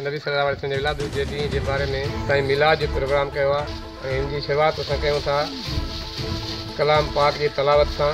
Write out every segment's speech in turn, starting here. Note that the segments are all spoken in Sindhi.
نبي صلّي الله عليه وسلّم جي ولادت جي ڏينهن جي باري ۾ سائين ميلاد جو پروگرام ڪيو آهي ۽ ان جي شروعات اسان ڪيون ٿا ڪلام پاڪ جي تلاوت سان.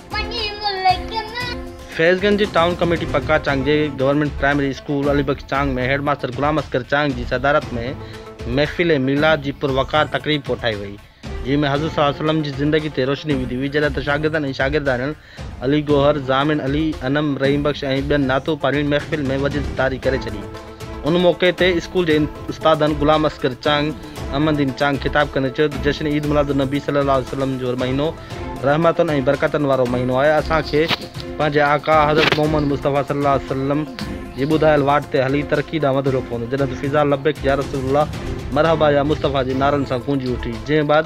فيض گنج جي ٽائون ڪميٽي پڪا چانگ جي government primary school Ali Bakhsh Chang ۾ head master Ghulam Asghar Chang جي صدارت ۾ محفل ميلاد جي پر وقار تقريب ڪوٺائي وئي جنهن ۾ حضور صلي الله عليه وسلم جي زندگي تي روشني وڌي وئي جڏهن ته شاگردن ۽ شاگردياڻين علي گوهر، ضامن علي، انعم، رحيم بخش ۽ ٻين نعتو پاڙين محفل ۾ وجد طاري ڪري ڇڏي. ان موقعي تي اسڪول جي استادن غلام اصغر چانگ، احمدين چانگ خطاب ڪندي چيو ته جشن عيد ميلاد النبي صلي الله عليه وسلم جو مهينو رحمتن ۽ برڪتن وارو مهينو آهي، اسان کي پنهنجي آقا حضرت محمد مصطفي صلي الله عليه وسلم جي ٻڌايل واٽ تي هلي ترقي ڏانهن وڌڻو پوندو، جڏهن ته فضا لبيڪ يا رسول الله، مرحبا يا مصطفي جي نعرن سان گونجي اٿي، جنهن بعد